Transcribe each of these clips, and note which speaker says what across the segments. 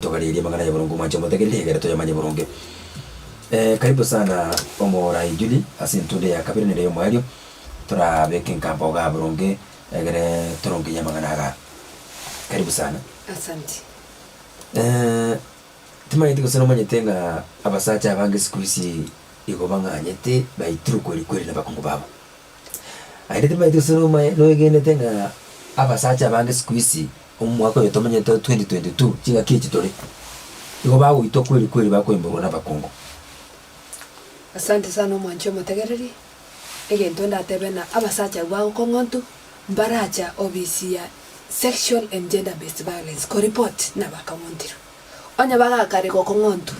Speaker 1: Togarerie amang'ana ya boronge omwancha omotegereri egere toyamanye boronge. Eeh karibu sana omorai Julie ase entunda ya kabere nere yomoerio torabeke nkampa ogaa boronge egere torongenye amang'ana agaa. Karibu sana. Asanti.
Speaker 2: Eeh
Speaker 1: timanyeti gose nomanyete ng'a abasacha abange sikuisi igo bang'anyete baitirwe kweria kweria nabakungu babo. Aye timaeti gose nomaye noegenete ng'a abasacha abange sikuisi, omwaka oyo tomanyete o 2022, ching'aki echi tore, igo bagoitwa kweri kweri bakoimborwa nabakungu.
Speaker 2: Asante sana omwanchi omotegereri, egento ndatebe na abasacha abwo bagokong'ontu, mbaracha ofisi ya Sexual and Gender Based Violence koreport nabakang'ontirwe. Onye bagakare gokong'ontu.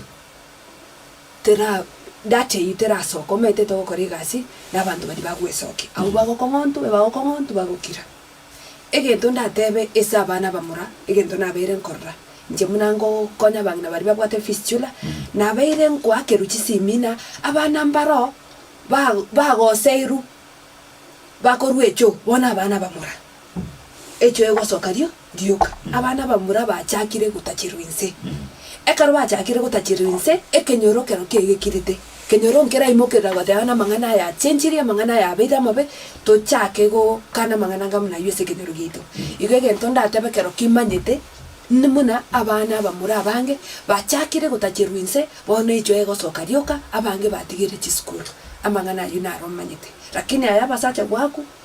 Speaker 2: tera data eyio terasoka, omaetete ogokora egasi na abanto baria bagwesokia, abwo bagokong'ontwe, bagokong'ontwe bagokira. Egento ndatebe ase abana abamura, egento nabeire nkorora, inche buna ngokonya abang'ina baria babwate fistula, nabeire nkoakerwa chisimina, abana mbaro ba bagoseirwa, bakorwa echo, bono abana abamura, echo egosoka rio Rioka, abana bamura bachakire gotacherwa inse. Ekero bachakire gotacherwa inse, ekenyoro kerokio kegekirite. Ekenyoro nkeraimokerera goteba namang'ana aya achenchirie, amang'ana aya abeire amabe, tochake gokana amang'ana anga buna ayio ase ekenyoro giaito. Igo egento ndatebe kerokio imanyete, nbuna abana abamura abange bachakire gotacherwa inse, bono echo egosoka rioka, abange batigire chisukuru. Amang'ana ayio naro omanyete. Rakini aya abasacha gwaku.